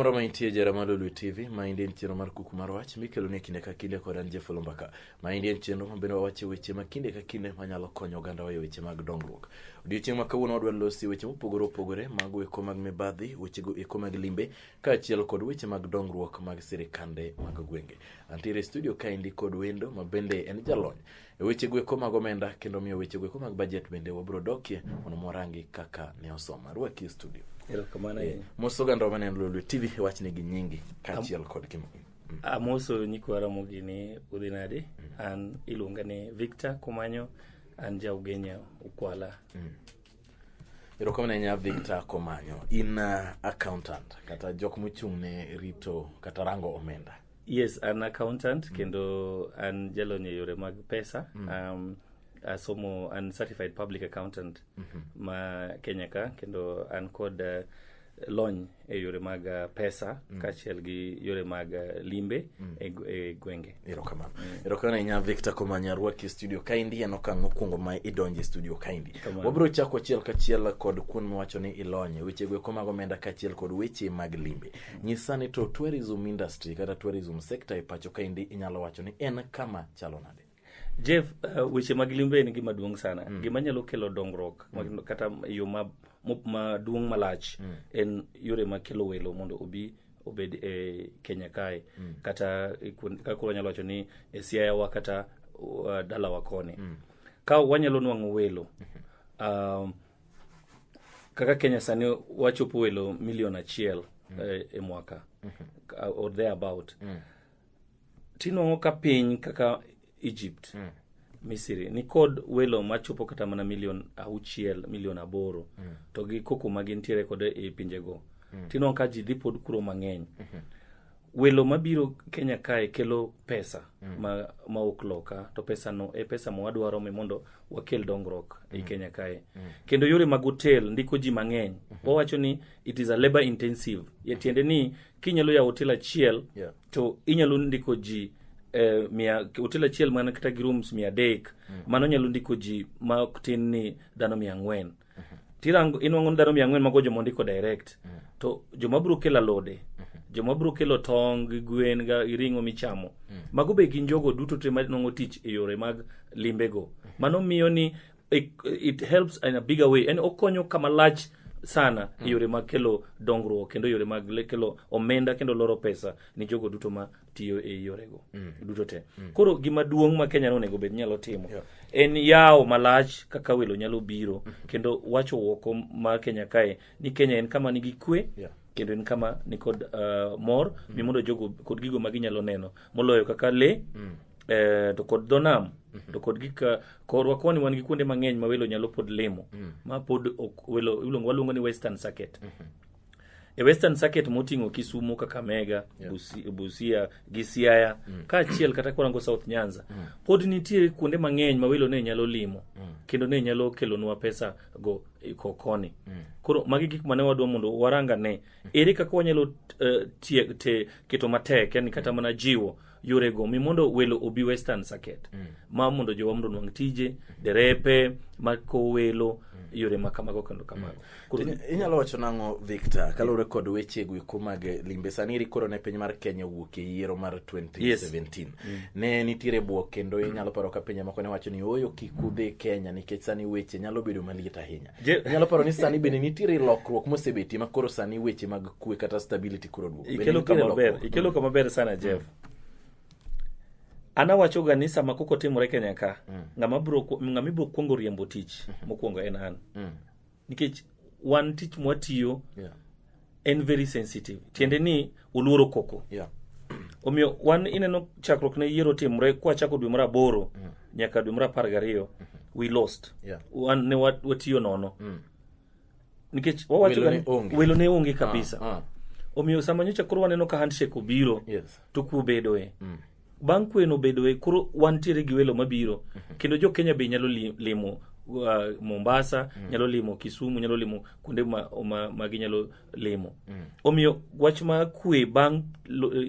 moro ma intie jara mar Lulu TV ma indi en chenro mar kuku mar wach mikelo ne kinde ka kinde kod an Jeff Olumbaka ma indi en chenro ma bende wawacho weche ma kinde ka kinde manyalo konyo oganda wayo weche mag dongruok. Odiochieng' ma kawuono wadwa losi weche mopogore opogore mago eko mag mibadhi, wechego eko mag limbe, kaachiel kod weche mag dongruok mag sirikande mag gwenge. Antiere e studio kaendi kod wendo ma bende en jalony e weche gweko mag omenda kendo miyo weche gweko mag bajet bende wabiro dokie mondo mwarangi kaka ne osoma. Arwaki e studio. Erokamano Eh, ahinya. Mos oganda ma neno Lolwe TV wachne gi nyingi kaachiel kod kim. Amoso nyikwa Ramogi ni udhi nade? An iluonga ni Victor Kumanyo, an ja Ugenya Ukwala. erokamano ahinya victor komanyo in uh, accountant kata jok mochung' ne rito kata rango omenda yes an accountant mm. kendo an jalony e yore mag pesa mm. um, asomo an certified public accountant mm -hmm. ma kenya ka kendo an kod uh, lony e yore mag uh, pesa mm. kaachiel gi yore mag uh, limbe mm. e, e gwenge erokamano mm. erokamano ahinya victor komanya rwaki e studio kaendi en okang' mokwongo ma idonje studio kaendi wabiro chako achiel kachiel kod kuon miwacho ni ilonye weche gweko mag omenda kaachiel kod weche mag limbe mm. nyisa ni to tourism industry kata tourism sector e pacho kaendi inyalo wacho ni en kama chalo nade Jeff, uh, weche mag limbe en gima duong' sana mm. gima nyalo kelo dongruok mm. kata yo maduong' ma malach mm. en yore makelo welo mondo obi obed e Kenya kae mm. kata e kaka koro nyalo wacho ni e Siayawa kata uh, dalawa koni mm. ka wanyalo nwang'o welo mm-hmm. um, kaka Kenya sani wachopo welo milion achiel mm. e, e mwaka mm -hmm. or thereabout mm. tinwang'o ka piny kaka egypt mm. misiri nikod welo machopo kata mana milion auchiel milion aboro mm. to gi koko ma gintiere kod e pinjego mm. tinwang'o ka ji dhi pod kuro mang'eny mm -hmm. welo mabiro kenya kae kelo pesa mm. ma, ma ok loka to pesa no e pesa ma wadwaro mi mondo wakel dongruok mm. ei kenya kae mm. kendo yore mag hotel ndiko ji mang'eny mm -hmm. wawacho ni it is a labor intensive yatiende ni kinyalo yawo hotel achiel Yeah. to inyalo ndiko ji eh, mia hotel achiel mana kata gi rooms mia adek mano nyalo ndiko ji ma ok tin ni dhano mia ang'wen tirango inwang'o ni dhano mia ang'wen mago joma ondiko direct to joma biro kelo alode joma biro kelo tong gi gwen ga- gi ring'o michamo mago be gin jogo duto te manwang'o tich e yore mag limbego mano miyo ni It, it helps in a bigger way. Yani okonyo kama lach sana mm. yore mag kelo dongruok kendo yore mag kelo omenda kendo loro pesa ni jogo duto ma tiyo e yorego mm. duto te mm. koro gima duong' ma kenya nonego bed nyalo timo yeah. en yawo malach kaka welo nyalo biro mm. kendo wacho woko ma kenya kae ni kenya en kama nigi kwe yeah kendo en kama nikod uh, mor mm. mi mondo jogo kod gigo ma ginyalo neno moloyo kaka le mm. eh, to kod dho nam to kod gik eh, korwa koni wan gi kuonde mang'eny ma welo nyalo pod limo ma pod ok- welo iluongo waluongo ni western circuit e western circuit moting'o kisumo kakamega Busi- busia gi siaya kaachiel kata kwarango south nyanza pod nitie kuonde mang'eny ma welo ne nyalo limo kendo ne nyalo kelonwa pesa go e ko- koni koro magi gik mane wadwa mondo waranga ne ere kaka wanyalo eh, tie- te- keto matek yani kata mana jiwo yorego mi mondo welo obi western circuit mm. ma mondo jowa mondo nwang' tije derepe makowo welo mm. yore ma kamago kendo kamago mm. inyalo wacho nang'o victor kaluwore kod weche gweko mag limbe sani iri koro ne piny mar kenya owuok e yiero mar 2017 yes. mm. ne nitiere bwok kendo inyalo paro ka pinje moko ne wacho ni oyo kik udhi kenya nikech sani weche nyalo bedo maliet ahinya Je- nyalo paro ni sani bende nitiere lokruok mosebetie ma koro sani weche mag kwe kata stability koro duogo Bende ikelo nitiere kama ber lokruok? ikelo kama ber sana jeff an awachoga ni sama koko timore kenya ka ng'ama biro ku- ng'ama ibiro kwongo riembo tich mokwongo en an Mm. nikech wan tich mwatiyo Yeah. en very sensitive tiende ni oluoro koko yeah. omiyo wan ineno chakruok ne yiero timre kwachako dwe mara aboro mm. nyaka dwe mara apar gariyo mm -hmm. we lost yeah. wan ne watiyo nono mm. nikech wawacho welo ne onge ah, kabisa ah, ah. omiyo sama nyocha koro waneno ka handshake obiro yes. to kuobedoe mm. bang' kweno bedoe koro wantiere gi welo mabiro mhm. kendo jo Kenya be nyalo limo uh, Mombasa mm. nyalo limo Kisumu nyalo limo kuonde ma, ma, ma ginyalo limo mm. omiyo wach ma kwe bang'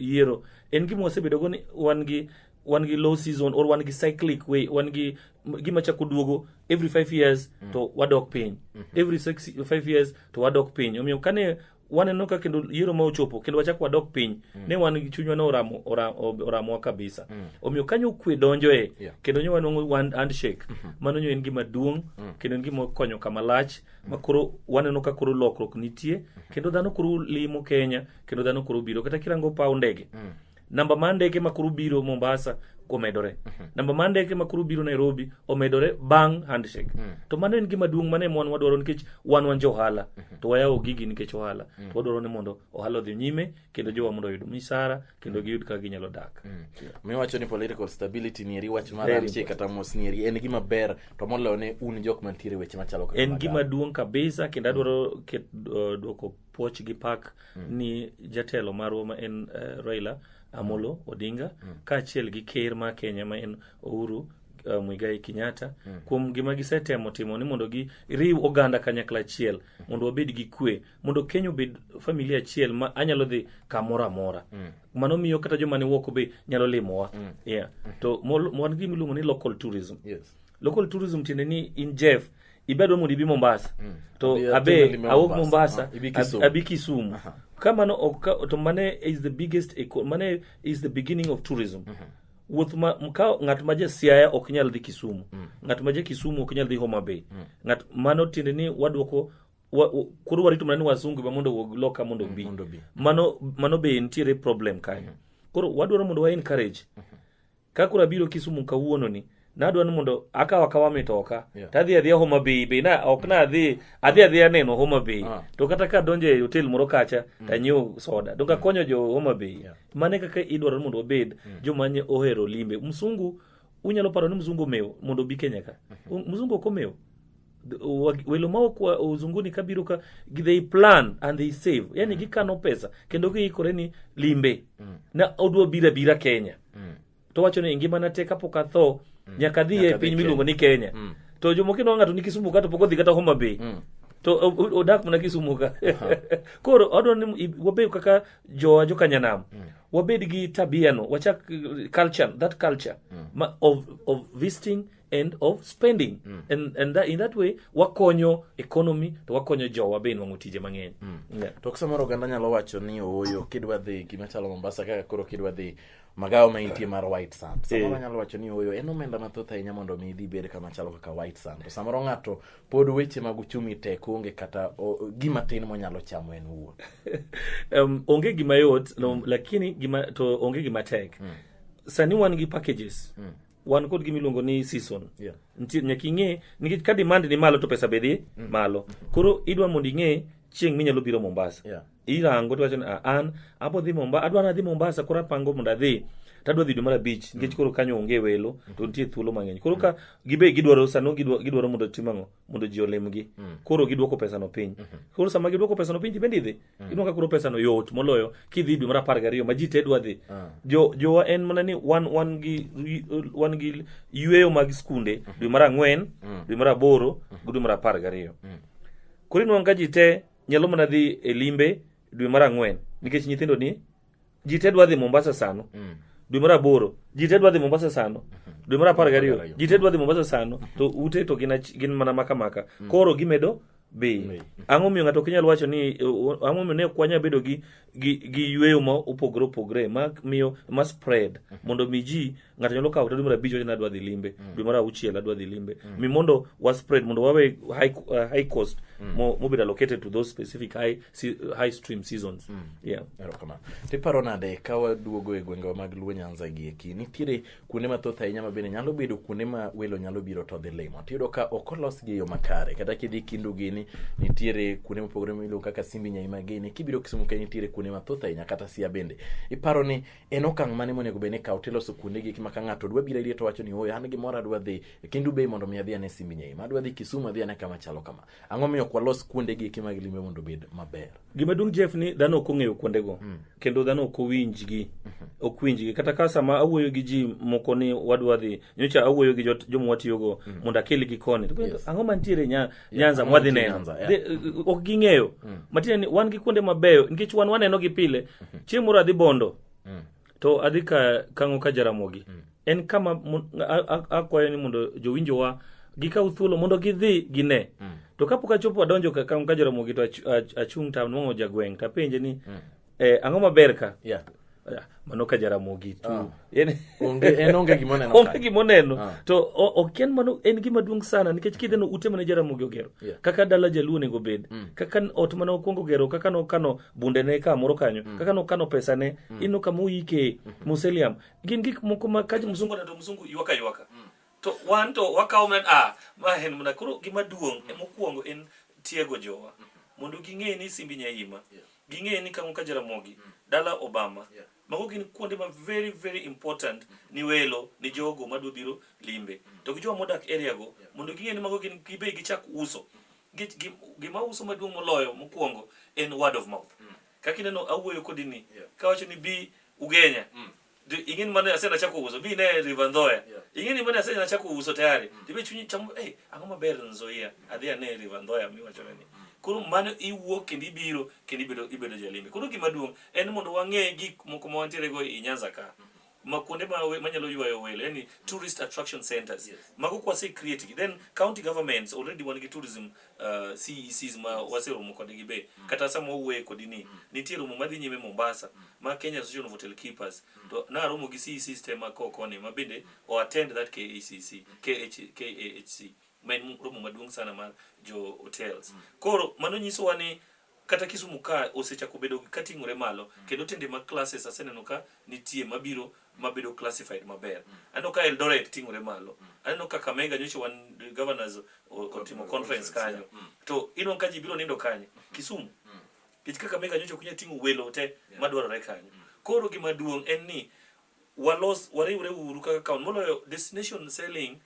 yiero en gima wasebedogo ni wan gi wan gi low season or wan gi cyclic way wan gi gima chako duogo every five years mm. to wadok piny mm -hmm. every six, five years to wadok piny omiyo kane waneno ka kendo yiero ma ochopo kendo wachak wadok piny mm. ne wan gi chunywa ne oramo oramowa kabisa mm. omiyo kanyo kwe donjo e yeah. kendo nyo wanwang'o one handshake mm -hmm. mano nyo en gima duong' mm. kendo en gima konyo kama lach mm. ma koro waneno ka koro lokruok nitie mm-hmm. kendo dhano koro limo Kenya kendo dhano koro biro kata kirango paw ndege mm. namba mar ndeke ma koro biro Mombasa omedore mhm. namba mar ndeke ma koro biro Nairobi omedore bang' handshake mm. to mano en gima duong' mane mon wadwaro nikech wan wan jo ohala mhm. to wayawo gigi nikech ohala mm. to wadwaro ni mondo ohala odhi nyime kendo jowa mondo oyud misara kendo mm. giyud kaka ginyalo dak miwacho ni political stability nieri wach mar handshake kata mos nieri en gima ber to moloyo ne un jok mantiere weche machalo en gima duong' kabisa kendo adwaro uh, dwoko puoch gi pak mm. ni jatelo marwa ma en uh, Raila Amolo mm. Odinga mm. kaachiel gi ker ma Kenya ma en Uhuru uh, Muigai Kenyatta mm. kuom gima gisetemo timo ni mondo giriw oganda kanyakla achiel mm. mondo wabed gi kwe mondo Kenya obed familia achiel ma anyalo dhi kamoro amora mm. mano miyo kata joma ne woko be nyalo limowa mm. yeah. mm. to wan gima iluongo ni local tourism yes. local tourism tiende ni in jeff ibe adwa mondo ibi mombasa mm. to Abi- abe generally me awuok Mombasa. mombasa Ah, ibi ab- Kisumu. abi kisumu Aha. ka mano ok ka- to mane is the biggest eco- mane is the beginning of tourism wuoth ma m- ka ng'at ma ja siaya ok nyal dhi kisumu ng'at ma ja kisumu ok nyal dhi homa bay ng'at mano tiende ni wadwoko wa- wa- koro warito mana ni wasungu ma mondo owuog loka mondo obi mondo obi. mano mano be nitiere problem kanyo koro wadwaro mondo wa encourage ka koro abiro kisumu kawuononi nadwa ni mondo akaw akawa mitoka Yeah. to adhi adhiya homa bay be na ok na adhi adhi adhiya neno homa bay Ah. to kata ka donjo e hotel moro kacha to anyiew soda donge akonyo jo homa bay Yeah. mane kaka idwaro ni mondo wabed joma nye ohero limbe msungu unyalo paro ni mzungu omewo mondo obi kenya ka mzungu ok omewo welo maok uzunguni kabiro ka they plan and they save yani mm. gikano pesa kendo giikore ni limbe mm. na odwa bira bira kenya mm. to wacho ni ngimana te kapok atho mm. nyaka dhi e piny miluongo ni kenya mm. to jomoko inwa ng'ato ni kisumu ka to pok odhi kata homa bay mm. to odak mana kisumu ka koro adwa ni wabed kaka jowa jokanyanam mm. wabed gi tabiano wachak culture that culture mm. ma, of, of visiting end of spending mm. and, and that, in that way wakonyo economy to wakonyo jowa be nwang'o tije mang'eny mm. yeah. to samoro oganda nyalo wacho ni ooyo kidwa dhi gima chalo mombasa kaka koro kidwa dhi magawa ma intie mar white sand eh. samoro nyalo wacho ni ooyo en omenda mathoth ahinya mondo mi idhi bed kama chalo kaka white sand to samoro ng'ato pod weche mag uchumi tek onge kata o, gima tin monyalo chamo en wuon um, onge gima yot mm. lakini gima, to onge gima tek mm. sani wan gi packages mm. wan kod gima iluongo ni season Yeah. nitie nyaka ing'e nikech ka demand ni malo to pesa be dhi malo koro idwa mondo ing'e chieng' minyalo biro mombasa Yeah. irango tiwacho ni "Ah, an abo dhi mombasa adwa nadhi mombasa koro apango mondo adhi to adwa dhi dwe mar abich nikech koro kanyo onge welo to nitie thuolo mang'eny koro ka gibe gidwaro sano gidwa- gidwaro mondo tim ang'o mondo ji olimgi mm. koro giduoko pesano piny mm -hmm. koro sama giduoko pesano piny tibende idhi mm. inwa ka koro pesano yot moloyo kidhi dwe mar apar gariyo ma ji te dwa dhi mm. jo, jowa en mana ni wan, wan, gi, wan gi yueyo mag skunde mm -hmm. dwe mar ang'wen mm. dwe mar aboro mm -hmm. gi dwe mar apar gariyo mm. koro inwang' ka ji te nyalo mana dhi e limbe dwe mar ang'wen nikech nyithindo ni ji te dwa dhi mombasa sano mm. dwe mar aboro ji te dwa dhi mombasa sano mhm. dwe mar apar gariyo ji te dwa dhi mombasa sano mhm. to ute to gin mana maka maka mm. koro gimedo be ang'o miyo ng'ato ok inyal wacho ni ang'o miyo ne ok wanyal bedo gi gi gi yweyo ma opogore opogore ma miyo ma spread mhm. mondo mi ji ng'ato nyalo kawo kata dwe mar abich wacho ni adwa dhi limbe dwe mar auchiel adwa dhi limbe mi mondo wa spread mondo wawe high, uh, high cost mo- mobedo allocated to those specific high, se- high stream seasons yeah. erokamano tiparo nade ka waduogo e gwengewa mag luo nyanza gi eki nitiere kuonde mathoth ahinya ma bende nyalo bedo kuonde ma welo nyalo biro to dhi limo tiyudo ka ok olosgi e yo makare kata kidhi kindu gini nitiere kuonde mopogore miluongo kaka simbi nyai magini kibiro kisumu kae nitiere kuonde mathoth ahinya kata sia bende iparo ni en okang' mane monego bed ni ikawo tiloso kuonde gi ma ka ng'ato dwa biro iri to wacho ni oyo an gimoro adwa dhi e kendo ubei mondo mi adhi ane simbi nyei ma adwa dhi Kisumu adhi ane kama chalo kama ang'o miyo ok walos kuonde gi ma gilime mondo obed maber gima duong' Jeff ni dhano ok ong'eyo kuonde go mm. kendo dhano ok owinj gi mhm. ok winj gi kata ka sama awuoyo gi ji moko ni wadwa dhi nyocha awuoyo gi jomwa tiyo go mm. mondo akel gi koni ang'o mantiere nya nyanza mwadhi neno Nyanza, yeah. Dhi- uh, ok ging'eyo matiende ni wan gi kuonde mabeyo nikech wan waneno gi pile chieng' moro adhi bondo to adhi ka kang'o ka jaramogi en kama mon- a- a- akwayo ni mondo jowinjowa gikaw thuolo mondo gidhi gine to kapok achopo adonjo ka kang'o ka jaramogi to ach- ach- achung' to anwang'o jagweng' to apenje ni eh, ang'o maber ka Yeah. Ah, mano ka jaramogi tu Ah. En- Onge, en onge gima oneno onge ka. gima oneno Ah. to o- ok en mano en gima duong' sana nikech kidheno ute mane jaramogi ogero Yeah. kaka dala jaluo onego bed kaka n- ot mane okwongo gero kaka nokano bundene kamoro kanyo kaka nokano pesane ino kama oyike museliam gin gik moko ma ka mzungu to mzungu ywaka ywaka to wan to wakawo men ah ma en mna koro gima duong' mm. mokwongo en tiego jowa mm. mondo ging'e ni simbi nyaima yeah. ging'e ni kango ka jaramogi mm. dala obama yeah. mago gin kuonde ma very very important mm. ni welo ni jogo madwa biro limbe mm. to gi jowa modak area go yeah. mondo ging'e ni mago gin gibe gichak uso mm. gima uso maduong' moloyo mokwongo en word of mouth mm. kaka ineno awuoyo kodi ni yeah. kawacho ni bi ugenya mm. Di- ingin mana ase na chako uso bi ne river ndoya Yeah. ingin mana ase na chako uso tayari dibe chunyi chamo eh ang'o maber nzoia adhi ane river ndoya mi wacho ni koro mano iwuok kendo ibiro kendo ibedo ibedo jalimbe koro gima duong' en mondo wang'e gik moko ma wantiere go i Nyanza ka ma kuonde ma we- manyalo ywayo welo yani tourist attraction centers Yes. mago kwase create gi then county governments already wan gi tourism uh, CECs ma mm. waseromo kodgi be mm. kata sama wawuoye kodi ni mm. nitie romo madhi nyime Mombasa mm. ma Kenya Association of Hotel Keepers mm. to naromo gi CECs te ma kokoni ma bende mm. o attend that KHCC mm. KH, KAHC ma en romo maduong' sana mar jo hotels mm. koro mano nyisowa ni kata Kisumu ka osechako bedo kating'ore malo mm. kendo tinde mag classes aseneno ka nitie mabiro mabedo classified maber. Mm. Aneno ka Eldoret ting'ore malo. Mm. Aneno ka Kakamega nyocha wan governors otimo conference kanyo. To ino ka ji biro nindo kanyo Kisumu. Kech Kakamega nyocha kunya ting'o welo te madwarore kanyo. Koro gima duong' en ni walos wariwre uru kaka kaun moloyo destination selling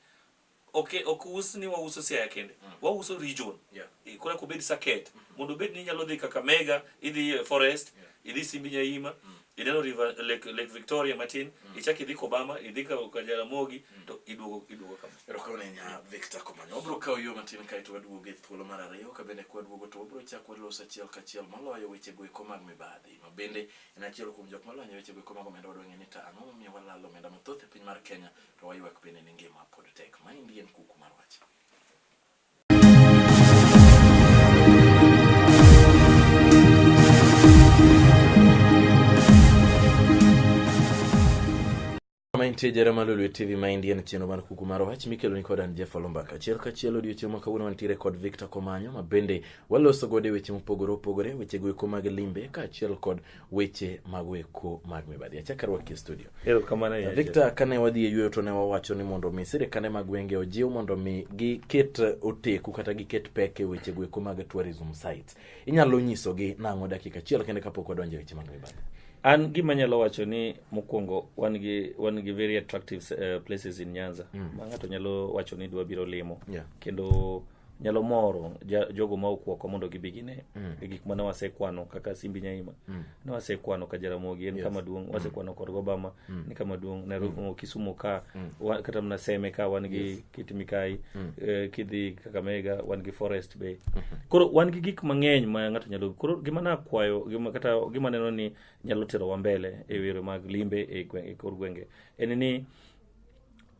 Ok ok us ni wauso Siaya kende. Mm. Wauso region. Yeah. E, Kora kubed saket. Mm -hmm. Mondo bed ni nyalo dhi kaka Mega, idhi e, Forest, yeah. idhi Simbi Nyaima, mm. -hmm. ineno River Lake, Lake Victoria matin, mm. -hmm. ichak idhi Kobama, idhi ka ka Jaramogi, mm. -hmm. to iduogo iduogo kama. Roko ne nya Victor Komanyo. Obro kawo yo matin kae to waduogo e thuolo mar ariyo ka bende kwa duogo to obro chako waloso achiel ka achiel maloyo weche go eko mag mibadhi. Ma bende en achiel kuom jok malonyo weche go eko mag omenda wadwang'e ni ta ang'o momiyo walalo omenda mathoth e piny mar Kenya to waywak bende ni ngima pod tek. Maendi en kuku mar wach. Mantie jara malo Lolwe TV ma India na chenro mar kuku mar wach mikelo ni kodan Jeff Olumbaka. Achiel ka chiel odiochieng' ma kawuono wantiere kod Victor Komanyo ma bende waloso gode weche mopogore opogore, weche goeko mag limbe kaachiel kod weche mag weko mag mibadhi achaka rwaki e studio erokamano ahinya victor kane wadhi e yueyo to ne wawacho ni mondo mi sirikande mag gwenge ojiw mondo mi giket oteku kata giket pek e weche gweko mag tourism sites inyalo nyisogi nang'o dakika achiel kende kapok wadonjo e weche mag mibadhi an gima nyalo wacho ni mokwongo wan gi wan gi very attractive uh, places in nyanza mm. ma ng'ato nyalo wacho ni dwa biro limo Yeah. kendo nyalo moro ja- jogo ma okwoko mondo gibi gine e gik ma ne wasekwano kaka simbi nyaima ne wasekwano ka jaramogi en kama duong' wasekwano kod gobama ni kama duong' nairobi mo kisumo ka wa- kata mana seme ka wan gi kit mikai eh, kidhi kakamega wan gi forest bay koro wan gi gik mang'eny ma ng'ato nyalo koro gima nakwayo gima kata gima neno ni nyalo terowa mbele e yore mag limbe e gwe- e kor gwenge en ni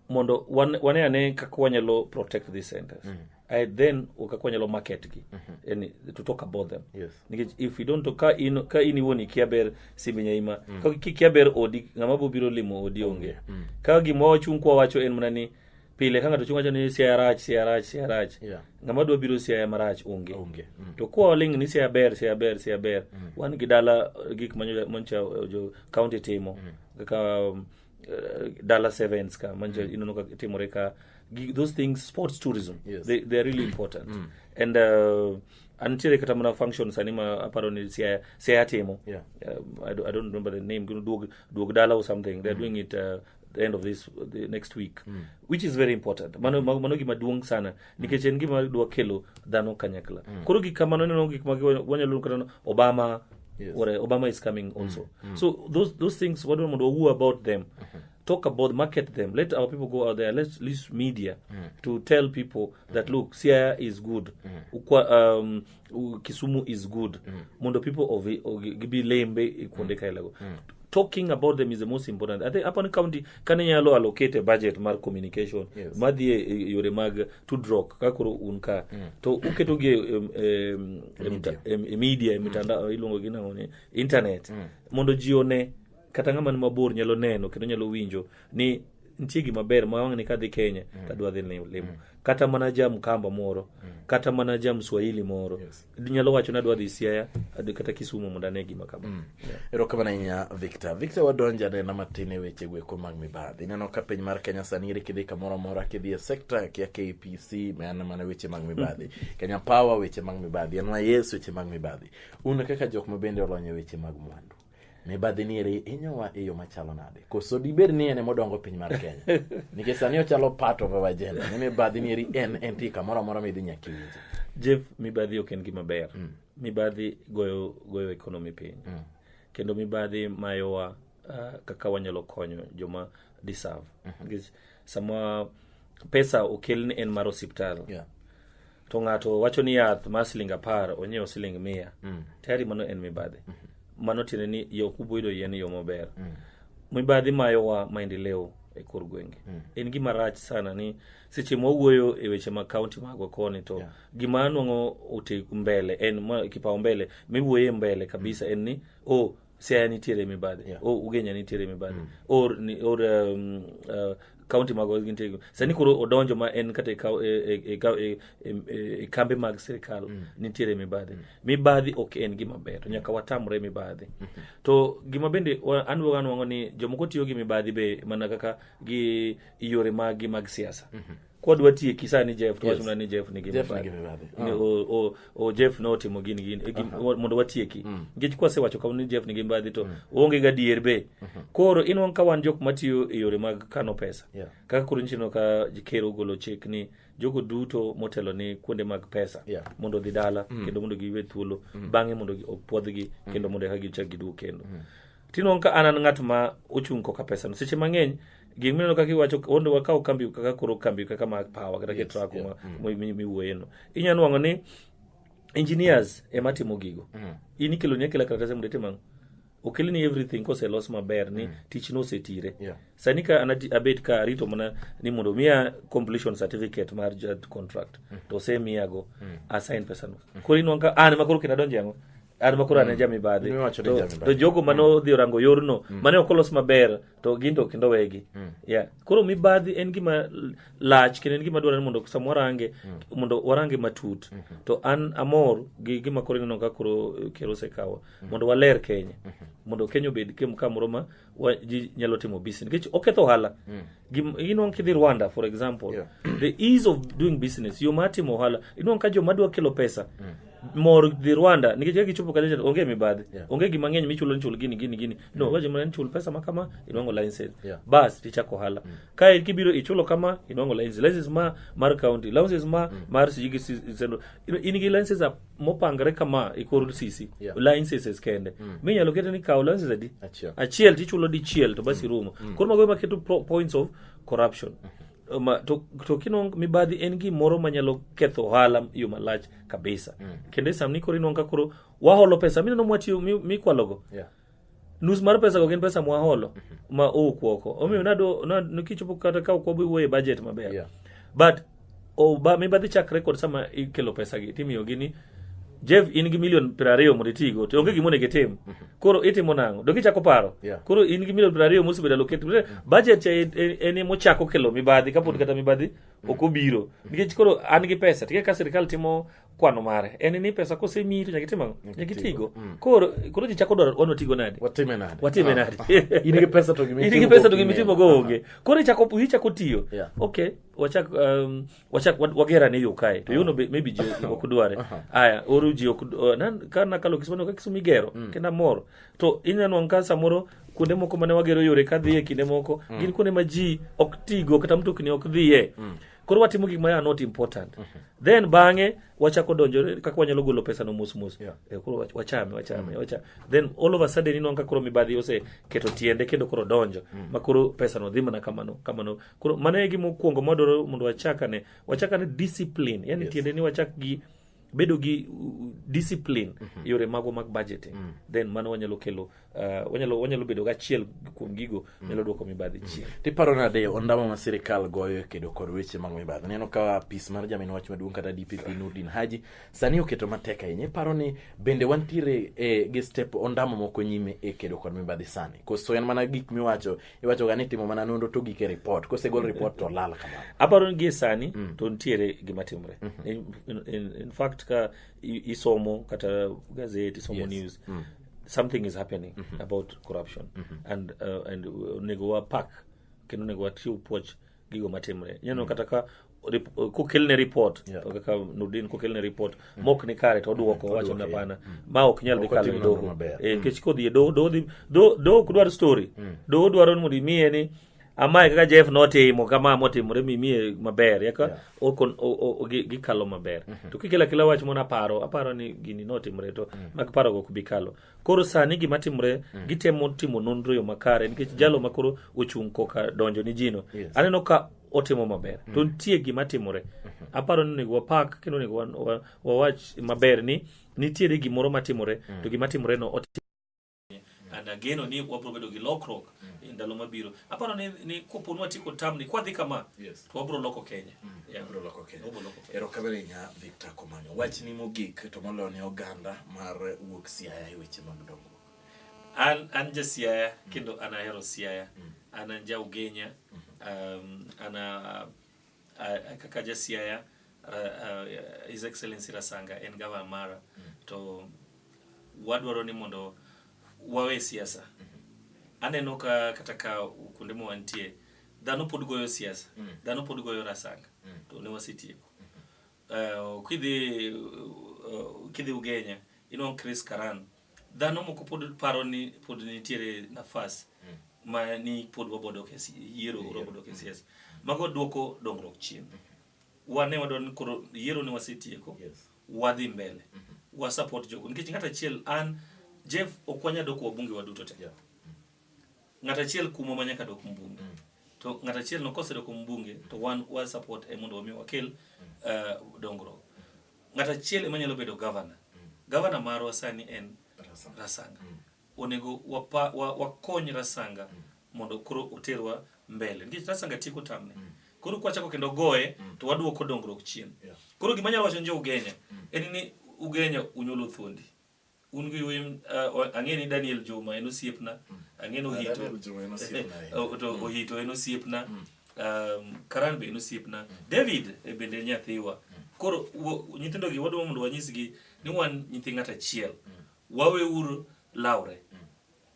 mondo wan- wane ane kaka wanyalo protect these centers I then kaka wanyalo market gi yani to talk about them Yes. nikech if you don't talk- ka in ka in iwuon ikia ber simbi nyaima ka kikia ber odi ng'ama bo biro limo odi onge ka gima wachung kwa wacho en mana ni pile ka ng'ato chung wacho ni siaya rach siaya rach siaya rach Yeah. ng'ama dwa biro siaya marach onge Onge. Mm. to kwa waling ni siaya ber siaya ber siaya ber wan gi dala gik manyo mancha jo county timo kaka um, uh, Dallas Sevens ka manje mm. ineno ka timore ka gi- those things sports tourism Yes. they, they are really important mm. and uh, antiere kata mana function sani ma aparo ni siaya siaya timo Yeah. um, I, do, I don't remember the name gino duog duog dala or something they're doing it uh, the end of this the next week which is very important mano mano gima duong sana nikech en gima dwa kelo dhano kanyakla mm. koro gik kamano ineno gik ma wanyalo kata obama yes. or, uh, obama is coming mm, also mm. so those, those things wadwa mondo wawuo about them mm-hmm. talk about market them let our people go out there let's use media mm. to tell people that mm. look siaya is good mm. Ukwa, um, u- kisumu is good mondo people of of- gibi lembe e kuonde kaelago talking about them is the most important i think upon county kane nyalo allocate a budget mar communication Yes. madhi e- e yore mag tudruok kaka koro un ka to uketogi e- em- em- em- em- e media e mitandao iluongo gi nang'o ni internet mondo ji one kata ng'ama ni mabor nyalo neno kendo nyalo winjo ni nitie gima ber ma wang'ni kadhi kenya mm. tadwa dhi limo mm. kata mana ja mkamba moro mm. kata mana ja mswahili moro yes. nyalo wacho ni adwa dhi siaya kata kisumu mondo ane gima kama mm. yeah. erokamano ahinya victor victor wadonjo anena matin e weche gweko mag mibadhi ineno ka piny mar kenya sani iri kidhi kamoro amora kidhi e sekta kia kpc mana mana weche mag mibadhi kenya power weche mag mibadhi nys weche mag mibadhi un kaka jok ma bende olony e weche mag mwandu mibadhi ni eri inyowa e yo machalo nade koso dibed ni en emodongo piny mar kenya nikech sani ochalo part of our agenda ni mibadhi ni eri en entie kamoro amora midhi nyaka iwinje jeff mibadhi ok en gima ber mm. mibadhi goyo goyo economy piny mm. kendo mibadhi mayowa uh, kaka wanyalo konyo joma deserve mm -hmm. sama pesa okel ni en mar osiptal Yeah. to ng'ato wacho ni yath mar siling apar onyiewo siling mia Mm. tayari mano en mibadhi mano tiende ni yo kuboido yien yo maber Mm. mibadhi mayowa maendeleo e kor gwenge Mm. en gima rach sana ni seche mwawuoyo e weche mag kaunti magwa koni to Yeah. gima anwang'o ote mbele en ma- kipao mbele miwuoye mbele kabisa en ni o siaya nitiere mibadhi Yeah. o ugenya nitiere mibadhi or, ni- or um, uh, county mago gintiere sani koro odonjo ma en kata e kau- e- e- e kau- e- e- e- e kambe mag sirikal nitiere mibadhi mibadhi ok en gima ber to nyaka watamre mibadhi to gima bende wa- an wuoga anwang'o ni jomoko tiyo gi mibadhi be mana kaka gi yore maggi mag siasa kwa dwa tiye kisa ni Jeff to yes. wachuna ni Jeff ni gima Jeff ni gima bade uh -huh. o, o, o Jeff no timo gin gin e gin uh -huh. mondo watieki mm. nikech kwa sewacho kama ni Jeff ni gima bade to mm. onge ga dier be uh mm-hmm. -huh. koro in wan ka wan jok matiyo e yore mag kano pesa yeah. kaka koro nchino ka kero golo chek ni jogo duto motelo ni kuonde mag pesa yeah. mondo dhi dala mm. kendo mondo giwe thuolo mm. bang'e mondo opwodhgi mm. kendo mondo eka gichak giduog kendo mm. Tinong' ka an an ng'at ma ochung' koka pesano. Seche mang'eny gik mineno kaka iwacho ondo wakaw kambi kaka koro kambi kaka ma power kata yes, truck yeah. Mm. ma mm. miwuoye no. Inya nwang'o ni engineers ema timo gigo. Mm. In ikelo ni akela karatase mondo itim ang'o? okel ni everything kose los maber ni mm. tich no osetire yeah. sani ka anati abet ka arito mana ni mondo miya completion certificate mar judge contract mm. to osemiyago mm. asign pesa no mm. koro inwang ka an ah, ma koro kendo adonje yango an ma koro ane jamibadhi In miwacho ni to, jamibadhi. to jogo mane odhi orango yorno mane ok olos maber to gin to kendo wegi yeah. koro mibadhi en gima l- lach kendo en gima dwarore mondo sama warange mondo warange matut to an amor gi gima koro ineno ka koro eh, ker osekawo mondo waler kenya mondo kenya obed kem- kamoro ma wa- ji nyalo timo business nikech oketho ohala Gim- inwang' kidhi rwanda for example Yeah. the ease of doing business yo mar timo ohala inwang' ka joma dwa kelo pesa mor dhi rwanda nikech ka gichopo kacha onge mibadhi Yeah. onge gima ng'eny michulo ni chul gini gini gini no wacho mana ni chul pesa ma kama inwang'o license Yeah. bas tichako ohala kae kibiro ichulo kama inwang'o license license ma mar county license ma mar sijigi sendo in gi license mopangre kama e kor sisi yeah. licenses kende mm. minyalo kete ni kaw licenses adi achiel, achiel tichulo dichiel to basi mm. rumo mm. koro mago maketo points of corruption mm -hmm. Ma, to, to kinong mibadhi en gimoro manyalo ketho ohala yo malach kabisa mm. kendo e sam ni koro inong ka koro waholo pesa mineno mwatiyo mikwalogo mi yeah. nus mar pesa go gin pesa mwaholo ma owuok oko omiyo nado na- nikichopo kata ka ok wabi wuoye budget maber Yeah. but o ba mibadhi chakre kod sama ikelo pesa gi timiyo gi ni Jeff in gi milion piero ariyo mondo itigo to onge gima onego itim koro itimo nang'o dok ichako paro Yeah. koro in gi milion piero ariyo mosebedo allocated budget cha en- en en ema ochako kelo mibadhi kapod kata mibadhi ok obiro nikech koro an gi pesa tike ka sirikal timo kwano mare en ni pesa kosemiyi to nyaka itim ang'o nyaka itigo mm. koro koro ji chako dwaro wano tigo nadi watime nadi watime ah, nadi ah. in gi pesa to gimi in gi pesa to gimi timo go onge ah. koro ichako ichako tiyo yeah. okay wachak um, wachak wagera ne yo kae to yono uh-huh. maybe ji ok dware uh-huh. aya oru ji ok uh, nan ka na kalo kismano ka kisumi gero mm. kenda mor to inyano anka samoro kuonde moko mane wagero yore ka dhiye kinde moko mm. gin kuonde ma ji ok tigo kata mtokni ok dhiye mm. koro watimo gik ma not important mm -hmm. then bang'e wachako donjo kaka wanyalo golo pesa no mos mos yeah. e, koro wachame wachame mm -hmm. wachame then all of a sudden ino ka koro mibadhi ose keto tiende kendo koro donjo mm -hmm. ma koro pesa no dhi mana kamano kamano koro mano e gima okuongo mwadwaro mondo wachakane wachakane discipline yani yes. tiende ni wachak gi bedo gi uh, discipline mm -hmm. yore mago mag budgeting mm. then mano wanyalo kelo uh, wanyalo wanyalo bedo gachiel kuom gigo mm. nyalo dwoko mibadhi mm. chien tiparo nade ondamo ma sirikal goyo e kedo kod weche mag mibadhi neno ka pis mar jamin wach maduong' kata dpp nurdin haji sani oketo matek ahinya iparo ni bende wantiere e, gi step ondamo moko nyime e kedo kod mibadhi sani koso en mana gik miwacho iwachoga ni timo mana nonro to gik e ripot kosegol ripot to lal kamano aparo ni gie sani mm. to nitiere gima timre mm -hmm. in, in, in, in fact ka isomo kata gazet isomo yes. news mm. something is happening mm -hmm. about corruption mm -hmm. and uh, and uh, onego wapak kendo onego wachiw puoch gigo matimre ineno kata ka rip- kokelne report Yeah. kaka nurdin kokelne report mok ni kare to oduoko wacho ni hapana ma ok nyal dhi Ok kalo otim e nonro doho maber. Eh, nikech kodhi e doho doho dhi- doho- doho ok dwar story doho dwaro ni mondo imiye ni amae kaka jeff notimo kama motimore mimiye maber yaka Yeah. okon- o- o- o- gi- gikalo maber to kikelo akela wach mona paro aparo ni gini notimre to mag parogo ok bi kalo koro sani gima timore mm. gitemo timo nonro yo makare nikech mm. jalo makoro ochung' koka donjo ni jino yes. aneno ka otimo maber mm. to nitie gima timore mm-hmm. aparo ni onego wapak kendo onego wawach maber ni nitiere gimoro matimore mm. to gima timore no and ageno ni wabro bedo gi lokruok mm. e ndalo mabiro aparo ni, ni kopo ni watieko tamni kwadhi kama yes. Wabro loko Kenya. Mm, yeah. Wabro loko Kenya. Wabro loko Kenya. Erokamano nya Victor Komanyo. Wach ni mogik to moloyo ne oganda mar wuok Siaya e weche mag dongo. An an ja Siaya mm. kendo an ahero Siaya. Mm. An an ja Ugenya. Mm. Um, ana uh, kaka ja Siaya uh, uh, His Excellency Rasanga en gavana mara mm. to wadwaro ni mondo wawe siasa. Mm -hmm. Aneno ka kata ka kuonde mwantie Dhano pod goyo siasa, mm. dhano pod goyo rasanga, mm. to ne wasetieko. Uh, kidhi uh, kidhi Ugenya, inwang' you Chris Karan, dhano moko pod paro ni pod nitiere nafas mm. ma ni pod wabodo kesi, yiero yeah. wabodo kesi, mm. yes. Mago duoko dongruok chien. Mm -hmm. Wane wadwa ni koro yiero ne wasetieko, yes. wadhi mbele, mm -hmm. wasupport jogo. Nikech ng'at achiel an, Jeff okwanya doko wabunge waduto te. Yeah. Ng'at achiel kumo ma nyaka dok mbunge. Mm. To ng'at achiel no kosedoko mbunge to wan wa support e mondo wami wakel uh, dongruok. Ng'at achiel ema nyalo bedo governor. Mm. Governor marwa sani en Rasanga. Rasanga. Mm. Onego wapa, wa, wakony Rasanga mm. mondo koro oterwa mbele. Nikech Rasanga tieko tamne. Mm. Koro kwachako kendo goye mm. to waduoko dongruok chien. Yeah. Koro gima nyalo wacho njo Ugenya mm. en ni Ugenya unyolo thuondi. un gi wem uh, ang'e ni daniel juma en osiepna mm. ang'e ni ohito to ohito en osiepna mm. um, karan be en osiepna mm. david e bende en nyathiwa koro nyithindo gi wadwa mondo wanyisgi ni wan nyithi ng'at achiel waweuru lawre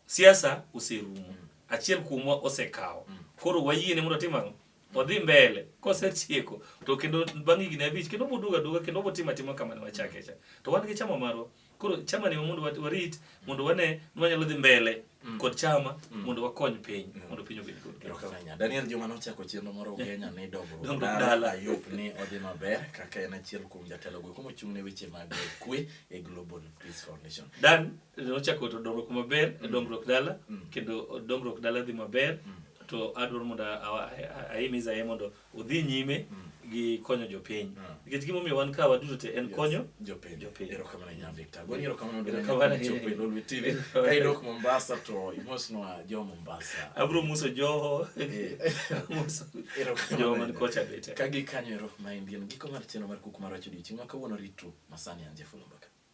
Siasa oserumo. Achiel kuomwa osekawo. Mm. Koro wayiene mondo otim ang'o? odhi mbele kosetieko to kendo bang' higni abich kendo oboduogo aduoga kendo obotimo atima kama ne wachake cha to wan gi chama marwa koro chama ni mondo warit mondo wane ni wanyalo dhi mbele mm. kod chama mm. mondo wakony piny mm. mondo piny obed kod kenya Daniel Juma nochako chenro moro Kenya ni dongruok dala yup ni odhi maber kaka en achiel kuom jatelo go kuma chung' ne weche mag kwe e Global Peace Foundation Dan nochako to dongruok maber mm. dongruok dala mm. kendo dongruok dala dhi maber mm. to adwaro mondo ahimiza ye mondo odhi nyime gi konyo jopiny nikech gimomiyo wan ka waduto te en konyo jopinydok mombasa to imosnwa jo mombasa abro muso joho eh. joman kocha bete ka gikanyo erokamana indian giko mar chenro mar kuku mar wacho odiochieng' ma kawuono ritru masani anje fulumba